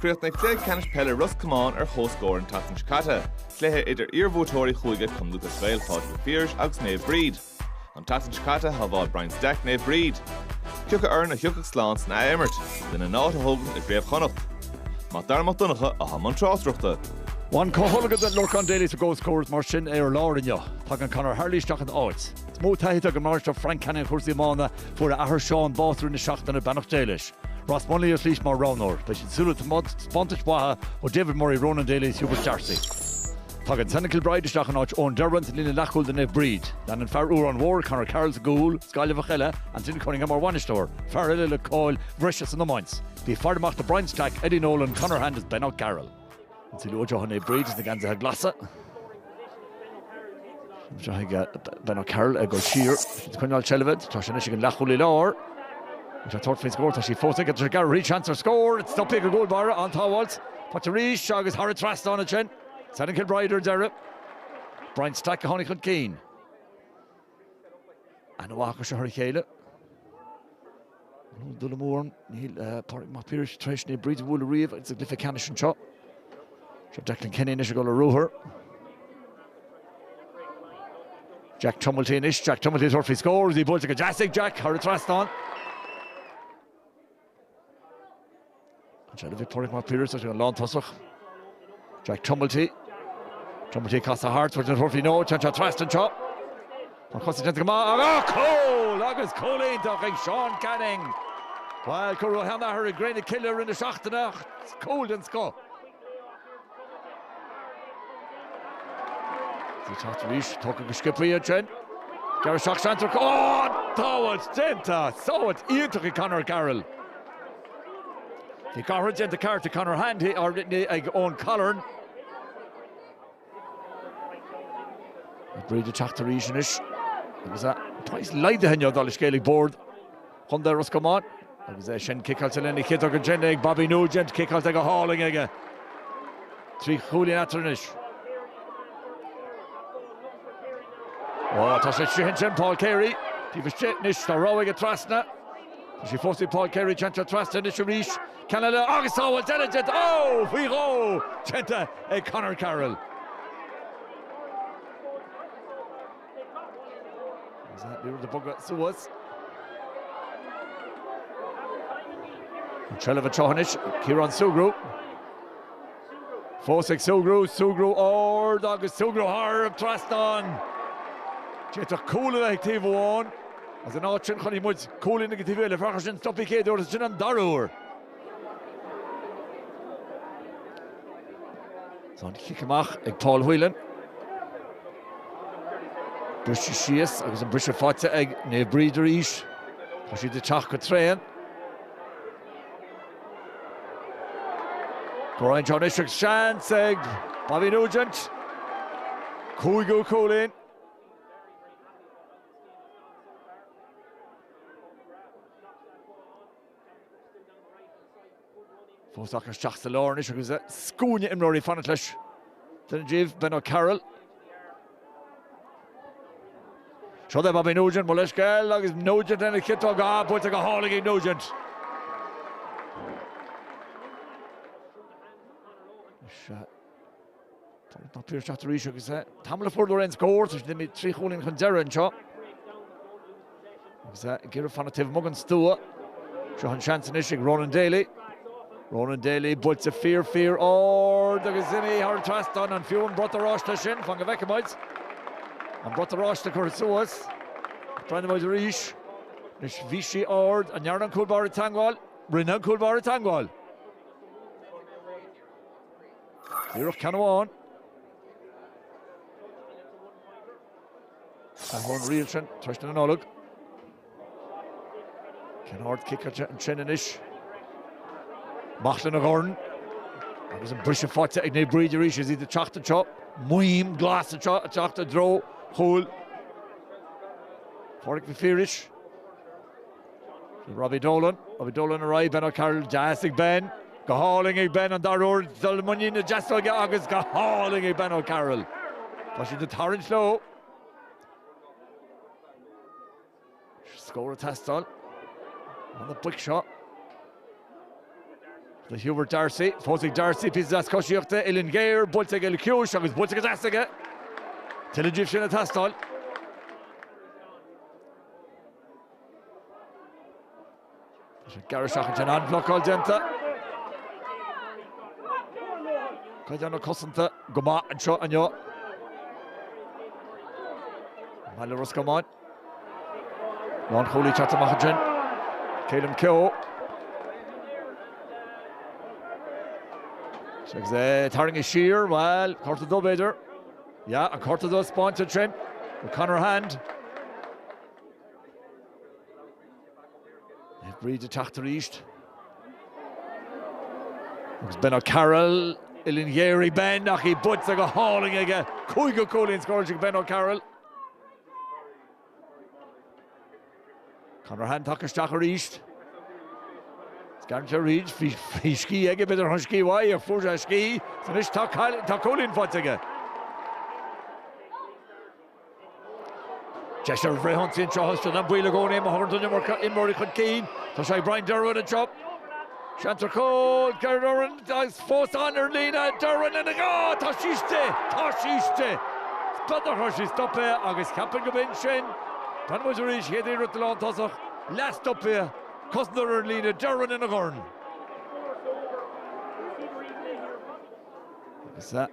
Chríochnaigh cluiche ceannais peile Ros Comáin ar chomhscór an tseachtain seo caite, cluiche idir iarbhuaiteoirí Chúige, Cumann Lúthchleas Gael Pádraig Mac Piarais agus Naomh Bríd. An tseachtain seo caite shábháil Brian Stack Naomh Bríd. Cé acu foireann a thiocfadh slán san athimirt lena n-áit a thógaint i gcraobh Chonnacht. Mac Dara Mac Donncha i mbun na tráchtaireachta. Bhain comhtholgadh do Lorcán Daly sa gcomhscór is mar sin ar lár inniu. Tagann Conor Harley isteach ina áit. Is mó taithí atá ag an mbainisteoir Frank Canning ar chúrsaí iomána Fuair a athair Seán bás i rith na seachtaine, beannacht Dé leis. Ross Munley ar shlís mar roghnóir. Beidh siad ag súil le taispeántais mhaithe ó David Murray, Ronan Daly is Hubert Darcy. Tagann Senan Kilbride isteach in áit Eoin Derwin sa líne leathchúil do Naomh Bríd. Leanann fear Órán Mór Conor Carroll sa gcúl, is Gaillimheach eile, Anthony Cunningham mar bhainisteoir, fear eile le cáil bhreise san iomáint. Bí ag faire amach do Brian Stack, Eddie Nolan, Conor Hand is Ben O'Carroll. Is lucht Naomh Bríd sna geansaithe Glasa. Seo chuig Ben O'Carroll ag dul siar ag coinneáil seilbhe. Tá sé anois ag an leath chúlaí láir. Tá sé ag tabhairt faoin scór, tá sí fós aige. Tá sé ag gearradh thríd, seans ar scór. Stoptha ag an gcúlbhaire, an tsábháilt. Faighte arís agus thar an trasnán ansin. Senan Kilbride ar deireadh. Brian Stack a tháinig chun cinn. An-aithne acu seo ar a chéile. Mura bhfuil dul amú orm, níl Pádraig Mac Piarais tar éis Naomh Bríd a bhualadh riamh i gcluiche ceannais anseo. Seo Declan Kenny anois ag dul ar ruathar. Jack Tumilty anois, Jack Tumilty ag tabhairt faoi scór, is í buailte go deas ag Jack thar an trasnán. An seilbh ag Pádraig Mac Piarais, sa líne lántosach. Jack Tumilty. Tumilty ag casadh thart, an dtabharfaidh sé? Nó, téann sé trasna anseo. Tá cosa déanta go maith ach ó cúl! Agus cúl iontach ag Seán Canning! Bhuel, cuireadh a sheanathair i gcré na cille i rith na seachtaine ach cúl den scoth. Ag teacht arís, tógtha go sciopaí ansin. Gearradh isteach Seán isteach. Ó! Sábháilt déanta! Sábháilt iontach ag Conor Carroll. Bhí garthra déanta ceart ag Conor Hand ag Eoin Colleran. Naomh Bríd ag teacht arís anois agus a praghas laghdaithe inniu, dar le scéal ag Bord. Chontae Ros Comáin, agus é sin ciceáilte lena chiotóg déanta ag Bobby Nugent, ciceáil de go hálainn aige trí chúilín atá eatarthu anois. Ó, tá sé tríothu ansin, Paul Carey, taobh istigh anois, tá rogha aige trasna, tá sé fós ag Paul Carey déanta trasna isteach arís, ceann eile agus tá, bhuel, deineadh é faoi dhó, déanta ag Conor Carroll. Ní rud a bogadh suas. An trealamh anseo anois, Ciarán Sugrue. Fós ag Sugrue, Sugrue ard agus Sugrue thar an trasnán. D'fhéadfadh cúl a bheith ag taobh amháin as an áit sin, chonaic muid cúl i ngach taobh eile, faraor sin, stop í céad uair, agus sin an dara huair. An cic amach ag Paul Whelan. Briseadh síos agus an briseadh faighte ag Naomh Bríd arís. Tá siad ag teacht go tréan. Ag breathnú anois agus seans ag Bobby Nugent. Cúigiú cúilín. Fós ag teacht isteach sa lár anois agus scuaine imreoirí fanacht leis, duine díobh, Ben O'Carroll. Seo do Bobby Nugent, mo leithscéal, agus Nugent lena chiotóg, buailte go hálainn ag Nugent. Is. Tá Piarsaigh ag teacht arís agus é tamall ó fuair siad aon scór. Tá siad imithe trí chúilín chun deiridh anseo agus é ag iarraidh fanacht taobh amuigh den stua. Seo an seans anois ag Ronan Daly. Ronan Daly, buailte fíor, fíor ard agus imithe thar an trasnán. An fiú an brat oráiste sin? Fan go bhfeice muid an brat oráiste curtha suas. Breathnóidh muid arís. Anois bhí sí ard. An ndearna an cúl báire teagmháil? Rinne an cúl báire teagmháil. Díreach ceann amháin ón riail sin trasna na Nollag. Ceann ard ciceáilte ansin anois? Amach lena dhorn agus an briseadh faighte ag Naomh Bríd arís is iad ag teacht anseo. Maidhm ghlas anseo ag teacht i dtreo chúil Phádhraic Mhic Phiarais. Robbie Dolan, Robbie Dolan ar aghaidh, Ben O'Carroll, deas ag Ben, go hálainn ag Ben, an dara uair dul i muinín na deasóige agus go hálainn ag Ben O'Carroll. Tá siad ag tarraingt leo. Scór ag teastáil ó na boic seo do Hubert Darcy. Fós ag Darcy píosa deas coisíochta, uillinn ghéar, buailte aige le tiúis agus buailte go deas aige. Tuilleadh díobh sin ag teastáil. Tá sé gearr isteach ansin, an-bhlocáil déanta. Caighdeán na cosanta go maith anseo inniu. Peil Ros Comáin. Lán Chóilí teacht amach ansin. Calum Keogh. Agus é tarraingthe siar, bhuel, cárta dubh b'fhéidir. Yeah, an cárta dubh a spáint ansin. Conor Hand. Naomh Bríd ag teacht arís. Agus Ben O'Carroll uillinn ghéar ag Ben ach í buaite go hálainn aige. Cúigiú cúilín scóráilte ag Ben O'Carroll. Conor Hand tagtha isteach arís. Scanraitheoir Reid, bhí scíth aige, b'fhéidir go raibh scíth uaidh ach fuair sé scíth. Anois tá cúilín faighte aige. Deis ar an bhfrithionsaí anseo agus tá an baol i gcónaí má théann an iomarca imreoirí chun cinn. Tá sé ag Brian Derwin anseo. Seans ar chúl, Derwin agus cosantóir ar an líne, Derwin ina dhá, tá sí istigh, tá sí istigh! Scoth na hiarrachta, stop é agus cheapfainn gurb in sin. Feicfimid arís, chéad iarracht den lántosach, leathstop é, cosantóir ar an líne, Derwin ina dhorn. Agus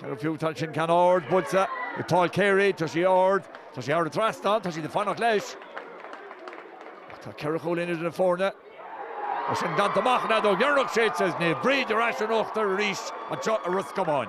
Ní fiú tada sin ceann ard buailte ag Paul Carey. Tá sé ard, tá sé ard thar an trasnán, tá siad ag fanacht leis. Ach tá ceithre chúilín idir na foirne. Tá sin déanta amach an fheadóg dheireanach séidte is Naomh Bríd ar ais in uachtar arís anseo i Ros Comáin.